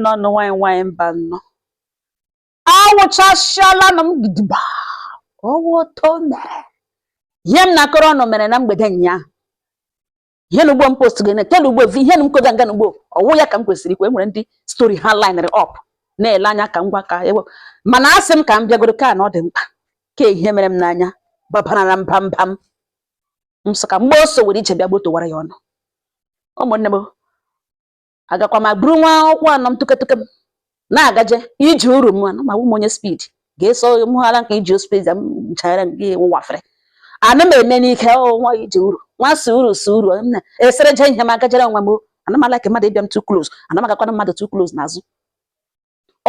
nnọọ nụ nwanyị nwanyị mba nnọ awụchasịala nụ m gidigba ọwụ oto mere ihe m na-akọrọ unu mere na mgbede ụnyaahụ ihe na ugbo m post gị tena ugbo vi ihe na m koga nga na ugbo ọwụ ya ka m kwesịrị ikwu enwere ndị stori ha linere ọp na-ele anya ka ngwa ka ewe mana a sị m ka m bịagoro ka na ọ dị mkpa ka ihe mere m n'anya babarara mba mba m m sị ka mgbe o sowere ije bịa gbotowara ya unu ụmụnne m agakwa m buru nwa ụkwụ anọ m tụketụke m na-agaje iji uru m anụ ma wụ m onye spid ga-eso mụghara nke iji spid m nchara gị wụwafere ana m eme n'ike ọ nwa iji uru nwa suru suru m na esere je ihe m agajere onwe m o. ana m alike mmadụ ịbịa m too close ana m agakwana mmadụ too close n'azụ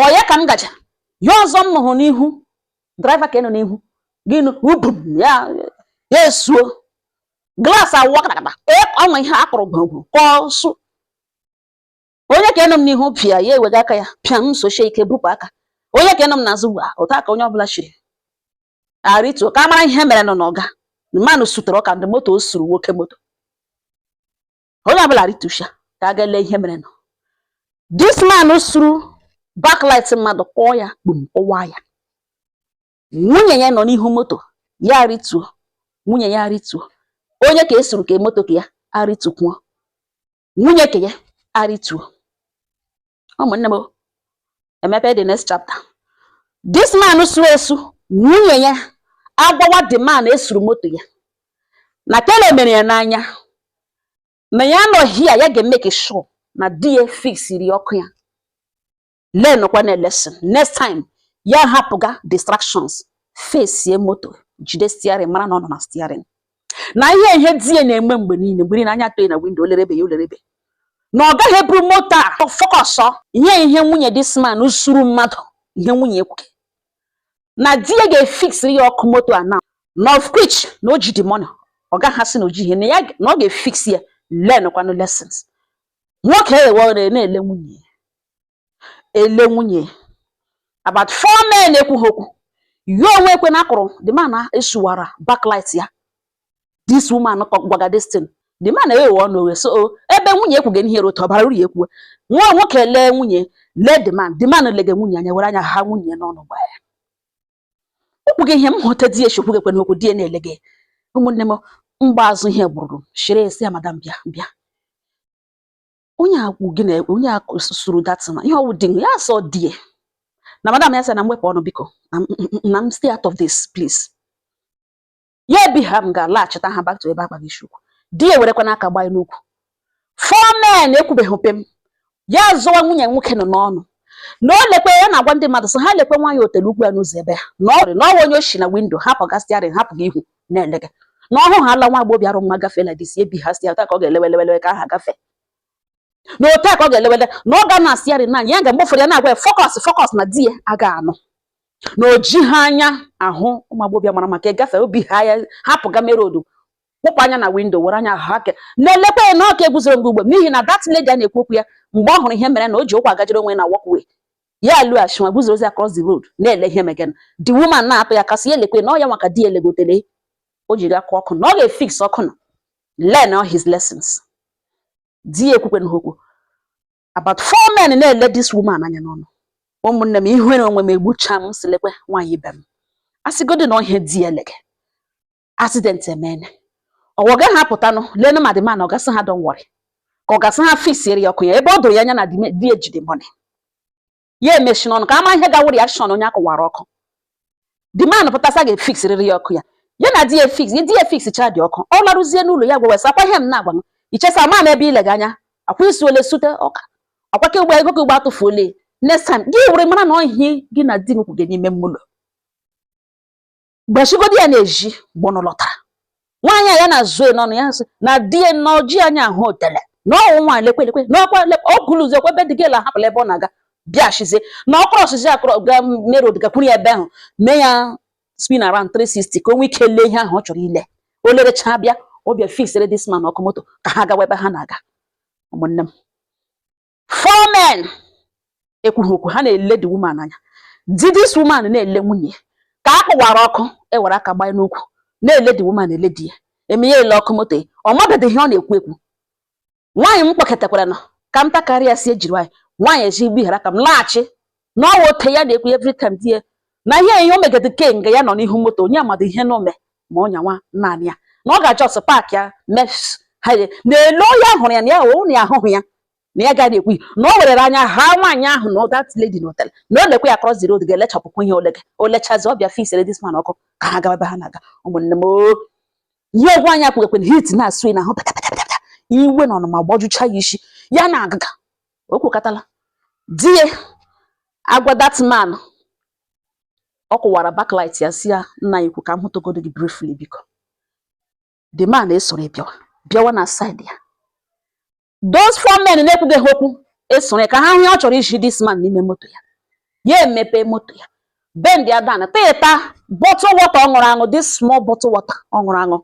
ọ ya ka m gaje ihe ọzọ m hụrụ n'ihu draiva ka ị nọ n'ihu gị nụ ubum ya ya esuo glaasị awụwa katakata o nwe ihe akụrụ gwụrụ ka ọ sụ onye ka ịnọ m n'ihu pịa ya ewega aka ya pịa m sochie ike bupụ aka onye ka ịnọ m n'azụ gwa otu aka onye ọbụla shiri arịtuo ka a mara ihe merenụ n'ọga mmanụ sutere ọka ndị moto o suru nwoke moto onye ọbụla arịtusha ka a ga-ele ihe merenụ this man suru backlight mmadụ kụọ ya kpum kụwa ya nwunye ya nọ n'ihu moto ya arịtuo nwunye ya arịtuo onye ka esuru ka moto ke ya arịtukwuo nwunye ke ya arịtuo ụmụnne m emepe the next chapter this man su esu nwunye ya agwawa the man esuru moto ya na kele mere ya n'anya na ya nọ here ya ga-emeke sure na di ya fiksiri ọkụ ya learn kwa na lesson next time ya ahapụga distractions fesie moto jide stiarin mara na ọ nọ na stiarin na ihe ihe di ya na-eme mgbe niile mgbe niile anya atọ ya na windo olerebe ya olerebe na ọ gaghị eburu moto a fọkọsọ ihe ihe nwunye this man suru mmadụ ihe nwunye ekwuke na di ya ga-efiksiri ya ọkụ moto a na na of which na o ji the money ọ gaghị asị na o ji ihe na ọ ga-efiks ya learn kwanụ lessons nwoke ewere na-ele nwunye ya ele nwunye about four men ekwughị okwu ya onwe ekwe na akụrụ the man esuwara backlight ya this woman gwaga this thing the man eghe ọnụ oghe so oh, ebe nwunye ekwughị ihe rụta bara uru ya ekwuwe nwa nwoke lee nwunye lee the man the man lege nwunye anya were anya ha nwunye n'ọnụ gba ya ekwughị ihe m hụta di eshi okwughị ekwe n'okwu di na-ele gị ụmụnne m mgbe azụ ihe gburu shiri esi ya madam bịa bịa onye akwụ gị na onye sụrụ datina ihe ọ wụ di ya sọ di ya na madam ya sị na m wepụ ọnụ biko na m stay out of this please ya ebi ha m ga-alaghachita ha back to ebe akpa gị chukwu di ya ewerekwanụ aka gbaa n'ukwu four men ekwubeghị pịm ya azụwa nwunye nwoke nọ n'ọnụ na o lekwe ya na-agwa ndị mmadụ sị ha lekwe nwaanyị otele ukwu ya n'ụzọ ebe ha na ọrị na ọ wa onye o shi na windo hapụ ga steering hapụ gị ihu na-elege na ọ hụ ha ala nwa agbọghọbịa mara mma gafee like this ebi ha steering ka ọ ga-elewelewele ka ha gafee na otu a ka ọ ga-elewele na ọ ga na steering na ya ga mgbe ụfọdụ ya na-agwa ya focus focus na di ya aga anụ na o ji ha anya ahụ ụmụ agbọghọbịa mara mma agafe obi ha ya hapụ ga main road kpụpụ anya na windo were anya ahụ a ka na-elekwa ya na ọ ka eguzoro mgbe ugbo n'ihi na that lady a na-ekwu okwu ya mgbe ọ hụrụ ihe mere na o ji ụkwụ agajere onwe ya na walkway ya alọghachikwa guzorozi across the road na-ele ihe megenụ the woman na-atụ ya aka sị ya lekwe na ọ ya nwa ka di ya elege otele o jiri akụ ọkụ na ọ ga-efix ọkụ na learn all his lessons di ya ekwukwenụ okwu about four men na-ele this woman anya n'ọnụ ụmụnne m ihere onwe m egbucha m sị lekwe nwaanyị ibe m a sịgodi na ọ ihe di ya elege accident emene ọ wa ọ gaghị apụtanụ leenụ ma the man ọ ga-asị ha don't worry ka ọ ga-asị ha fixiere ya ọkụ ya ebe o doro ya anya na di ya ejide money ya emechinụ ọnụ ka a ma ihe ga-awụ reaction onye a kụwara ọkụ the man pụta sị a ga-efixirịrị ya ọkụ ya ya na di ya fix di ya fixcha the ọkụ ọ larụzie n'ụlọ ya gwawa ya sị akwa ihe m na-agwa m i che sị ama m ebe i lega anya akwa isi ole zụte ọkụ a akwa ka ugbo ego ka ugbo atụfuole next time gị were mara na ọ ihe gị na di m kwuge n'ime ụlọ gbachigodi ya na-eji gbọnụ lọtara nwaanyị a ya na-azụ ya n'ọnụ ya sị na di ya na o ji anya ahụ otele na ọ wụ nwaanyị lekwe lekwe na ọ kwa lekwe ọ gụlụ ụzọ kwebe dịga ela hapụla ebe ọ na-aga bịa shizie na ọ crossịzi across ga main road gakwuru ya ebe ahụ mee ya spin around 360 ka o nwee ike lee ihe ahụ ọ chọrọ ile o lerecha bịa ọ bịa fixere this man ọkụ moto ka ha gawa ebe ha na-aga ụmụnne m four men ekwughị okwu ha na-ele the woman anya di this woman na-ele nwunye ya nke a kụwara ọkụ ewere aka gbanye n'ukwu na-ele the woman ele di ya eme ya ele ọkụ moto ọ mabedị ihe ọ na-ekwu ekwu nwaanyị m kpọkọtakwara nọ ka m takarịa sị ejiri nwaanyị nwaanyị ezi igbu ihere ka m laghachi na ọ wụ otu a ya na-ekwu every time di ya na ihe ihe o megede kemgbe ya nọ n'ihu moto onye amadị ihe na-eme ma ọ nyawa naanị ya na ọ ga just park ya mes ha je- na-ele onye ahụrụ ya na ya ụnụ ya ahụhụ ya na ya gaghị ekwu na o werere anya ha nwaanyị ahụ na that lady na hotel na o lekwe ya cross the road ga-elechapụkwu ihe o lege o lechazi ọ bịa fixere this man ọkụ ka ha gaba ebe ha na-aga ụmụnne m oo ihe ogwu anya kwugekwe na heat na-asụ n'ahụ pata pata pata pata. iwe na ọnụma gbajucha ya isi ya na-agaga o kwukatala di ya agwa that man ọ kụwara backlight ya sị ya nna anyị ukwu ka m hụtụgodo gị briefly biko the man esoro bịawa bịawa na side ya those four men na-ekwuga ha okwu esoro ya ka ha hụ ihe ọ chọrọ izi this man n'ime moto ya ya emepe moto ya bendia down tụta bottle water ọ ṅụrụ aṅụ this small bottle water ọ ṅụrụ aṅụ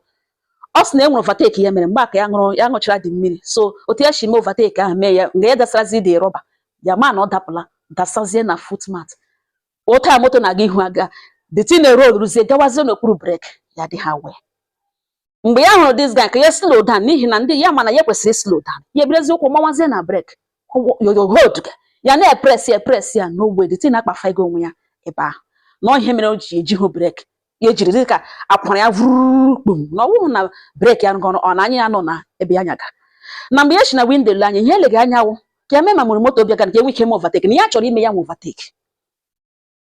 ọ sị na e nwere overtake ya mere mgbe ka ya ṅụchara the mmiri so otu ya si mee overtake ahụ mee ya nga ya dasarazi the rubber ya ma na ọ dapụla dasazie na footmat otu a moto na-aga ihu aga the tin rolu roluzie gawazie n'okpuru brake ya adịhụ aware mgbe ya hụrụ this guy ka ya slow down n'ihi na ndị ya ma na ya kwesịrị slow down ya eburuzi ụkwụ mawazie na brake yoyohold ya na-epress ya epress ya n'ogbe the tin akpafego onwe ya ebe ahụ na ihe mere o ji ejihụ brake ya ejiri dị ka akwara ya vurukpum na ọ wụhụ na brake ya ngọrọ ọ na anya ya nọ na ebe ya nyaga na mgbe ya si na windo le anya ihe elega anya wụ ka ya mee ma mụrụ moto bịaga ka enwe ike ime overtake na ya chọrọ ime ya nwe overtake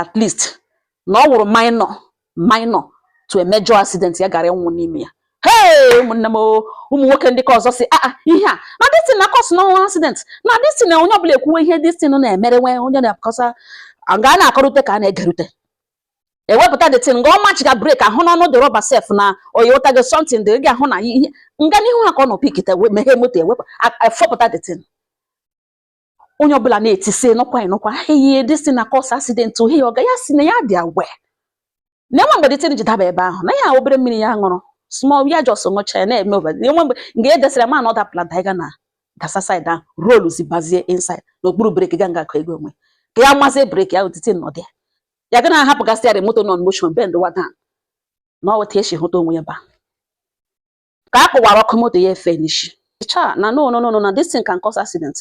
at least na ọ wụrụ minor minor to a major accident ya gara ịnwụ n'ime ya hey ụmụnne m ụmụ nwoke ndị ka ọzọ sị aa ah, ah, ihe a na this thing na-acause ọnwụ accident na this thing na onye ọbụla ekwuwe ihe this thing na-emere nwe onye na-akọsa nga a na-akọrute ka a na-egerute ewepụta the tin nga ọ machiga brake ahụ n'ọnụ the rubber sef na oyewụta gị something dị gị ahụ na ihe nga n'ihu ha ka ọ nọ pikite meghe moto ewepụ efopụta the tin onye ọbụla na-eti sị nụkwa nụkwa ihe this thing na-acause accident ohi oga ya sị na ya adịhụ aware na enwe mgbe the tin ji daba ebe ahụ na ya obere mmiri ya ṅụrụ small ya just ṅụcha ya na-eme over enwe mgbe nga e desịrị ma na ọ dapụla daiga na gasa side ahụ roluzi bazie inside n'okpuru brake ga nga akụ ego onwe ka ya mazie brake ahụ the tin nọdị ya ya ga na-ahapụgasị ya moto nọ motion bendwa down na ọ weta esi hụta onwe ya ba ka a kụwara ọkụ moto ya efe n'ishi cha na no no no na this thing can cause accident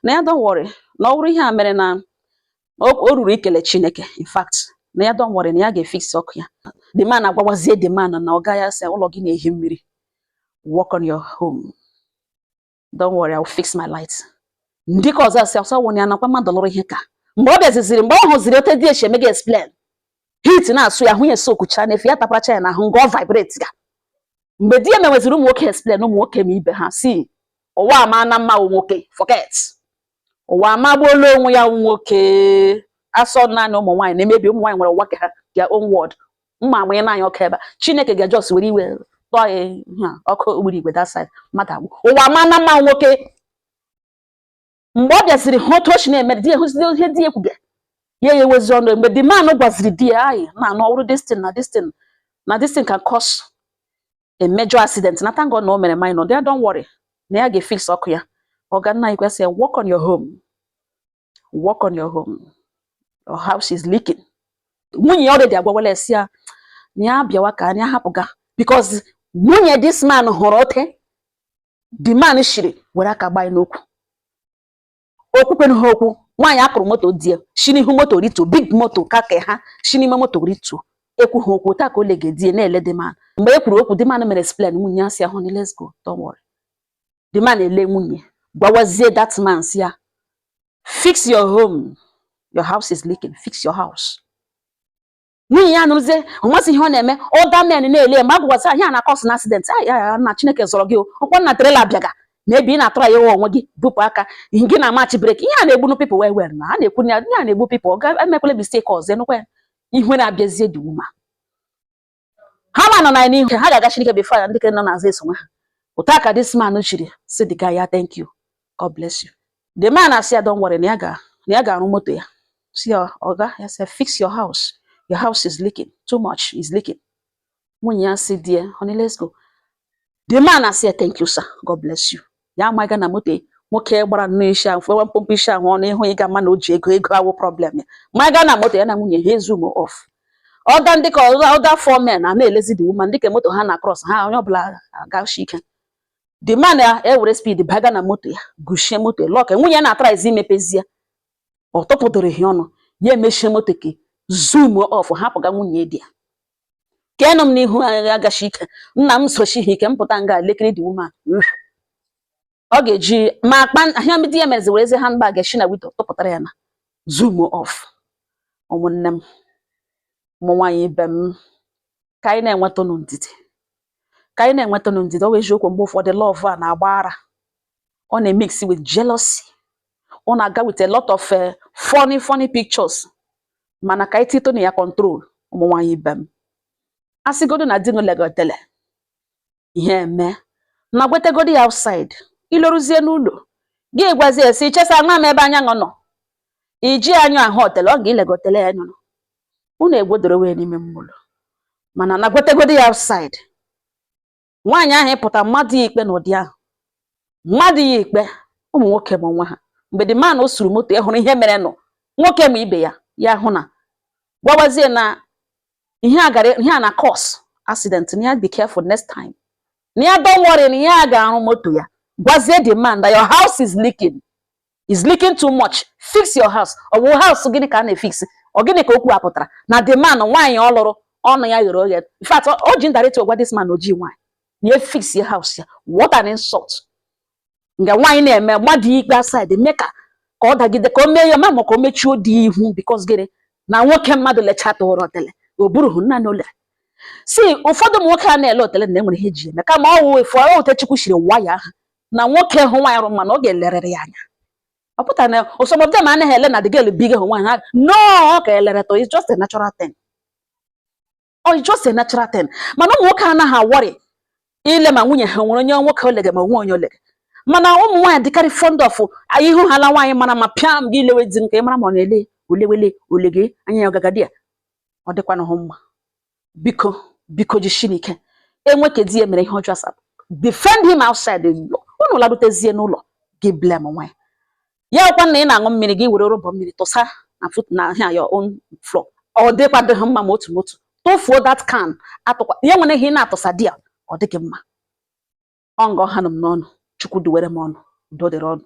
na ya don't worry na ọ wụrụ ihe a mere na o ruru ikele Chineke in fact na ya don't worry na ya ga-efix ọkụ ya the man agwawazie the man na oga ị sị ụlọ gị na-ehi mmiri work on your home don't worry, I will fix my light. Ndị ka ọzọ asị ọsọ wụnye anakwa mmadụ lụrụ ihe ka mgbe ọ bịaziziri mgbe ọ hụziri otu di ya shi emega explain heat na-asụ ya ahụ ya soakucha na efe ya taparacha ya na ahụ nga ọ vibratega mgbe di ya meweziri ụmụ nwoke explain ụmụ nwoke ma ibe ha sị ụwa amaana mma nwoke forget ụwa amagbuola onwe ya nwoke a sọ naanị ụmụ nwaanyị na-emebi ụmụ nwaanyị nwere ụwa nke ha their own world mma amụnye naanị ọkụ ebe a chineke ga-ejust were iwe tụọ ya ihe a, ọkụ ogbunigwe that side mmadụ agwụ ụwa amaana mma nwoke mgbe ọ bịaziri hụ otu o si na-eme di ya hụziri ihe di ya kwuga ya ya ewezi ọnụ mgbe the man gwaziri di ya anyị na anụ ọrụ this thing na this thing na this thing can cause a major accident na thank God na o mere minor there don't worry na ya ga-efix ọkụ ya ọga nna i kwesị work on your home work on your home your house is leaking nwunye ya already agwawala ya sị ya na ya bịawa ka anyị hapụga because nwunye this man hụrụ otu the man shiri were aka gbaa n'okwu okwukwe na ha okwu nwaanyị a kụrụ moto di ya shi n'ihu moto rituo big moto ka ka ha shi n'ime moto rituo ekwu ha okwu otu a ka o lege di ya na-ele the man mgbe e kwuru okwu the man mere explain nwunye ya sị ya honey let's go don't worry the man ele nwunye gwawazie that man sị ya fix your home your house is leaking fix your house nwunye ya nụrụzie ọ masị ihe ọ na-eme other men na-ele ma agwụgwasị ihe a na-cause accident ya na chineke zọrọ gị ọkwa na trailer bịaga maybe ị na-atụrụ ya onwe gị bupụ aka gị na-amachi brake ihe a na-egbunu people wee were na a na-ekwu ya ihe a na-egbu people ọga emekwele mistake ọzọ enukwa ya ihu na-abịazie dị uma ha ma nọ na n'ihu ha ga-aga chineke before ya ndị ke nọ n'azụ esonwe ha otu a ka this man shiri sị the guy ya thank you God bless you. The man asị ya don't worry na ya ga na ya ga-arụ moto ya sị ya oga ya sị fix your house your house is leaking too much is leaking nwunye ya sị di ya honey let's go the man asị ya thank you sir God bless you ya amaghị na moto nwoke gbara nnọọ isi ahụ fụwa mkpụmkpụ isi ahụ ọnụ ịhụ ị ga-ama na o ji ego ego awụ problem ya ma gaa na moto ya na nwunye ha ezoom off ọga ndị ke other four men a na-elezi the woman dịka moto ha na cross ha onye ọbụla agashi ike the man ya ewere speed baga na moto ya gushie moto ya lock nwunye ya na-atryzi imepezie ọ tụpụtụrụ ihe ọnụ ya emechie moto ka zoom off hapụga nwunye ndị ke nọ m n'ihu anyị agashi ike nna m sochi ha ike m pụta nga lekiri the woman ọ ga-eji ma akpa ahịa ndị ya mezi were ezi handbag shi na window tụpụtara ya na zoom off ụmụnne m ụmụ nwaanyị ibe m ka anyị na-enwetanụ ndidi ka anyị na-enwetanụ ndidi ọ wụ eziokwu mgbe ụfọdụ love a na-agba ara ọ na-emix with jealousy ọ na-aga with a lot of eh, funny funny pictures mana ka anyị titụnụ ya control ụmụ nwaanyị ibe m a sịgodu na di legotele ihe eme na gwetegodi ya outside i loruzie n'ụlọ gị gwazie si chesa nwa m ebe anya nọ iji anyụ ahụ otele ọ ga ilegotele ya nyụrụ unu egwudoro wee n'ime mmụlọ mana na gwetegodi ya outside nwaanyị ahụ ịpụta mmadụ ya ikpe n'ụdị ahụ mmadụ ya ikpe ụmụ nwoke ma onwe ha mgbe the man o suru moto ị hụrụ ihe merenụ nwoke ma ibe ya ahụ na gwawazie na ihe a gara ihe a na-cause accident na ya be careful next time na ya don't worry na ya ga-arụ moto ya gwazie the man that your house is leaking is leaking too much fix your house ọ bụ house gịnị ka a na-efix ọ gịnị ka okwu a pụtara na the man nwaanyị ọ lụrụ ọnụ ya ghere oghe in fact o ji indirect agwa this man oji nwaanyị na fix your house ya what an insult nga nwaanyị na-eme mmadụ ikpe aside mee ka ka ọ dagide ka o mee ya ma ma ka o mechie odi ihu because gịnị na nwoke mmadụ lechata ụra otele o burughị naa n'ụlọ si ụfọdụ ụmụ nwoke a na-ele otele na e nwere ihe e ji eme kama ọ wụ efu ọ otu Chukwu shiri wire ha na nwoke hụ nwaanyị rị mma na ọ ga-elerịrị ya anya ọ pụtara na some of them anaghị ele na the girl big hụ nwaanyị ha no ọ ka elere to it's just a natural thing or it's just a natural thing mana ụmụ nwoke anaghị a-worry ile ma nwunye ha nwere onye nwoke olege ma nwe onye olege mana ụmụ nwaanyị dịkarị fond of ị hụhala nwaanyị mara mma pịam gị elewe di m ka ị mara ma ọ na-ele olewele olege anya ya ọgagadi ya ọ dịkwanụhụ mma biko biko jishinụ ike enwe ka di ya mere ihe ọjọọ asa defend him outside unu larutezie n'ụlọ gị blamewe ya ya wụkwa na ị na-aṅụ mmiri gị were rọba mmiri tụsa na foot na ha your own floor ọ dịkwadịhị mma ma otu n'otu tụfuo that can atụkwa ya nwere ihe ị na-atụsa there ọ dịghị mma ọ nga ọ hanụ m n'ọnụ Chukwu duwere m unu udo dịrị unu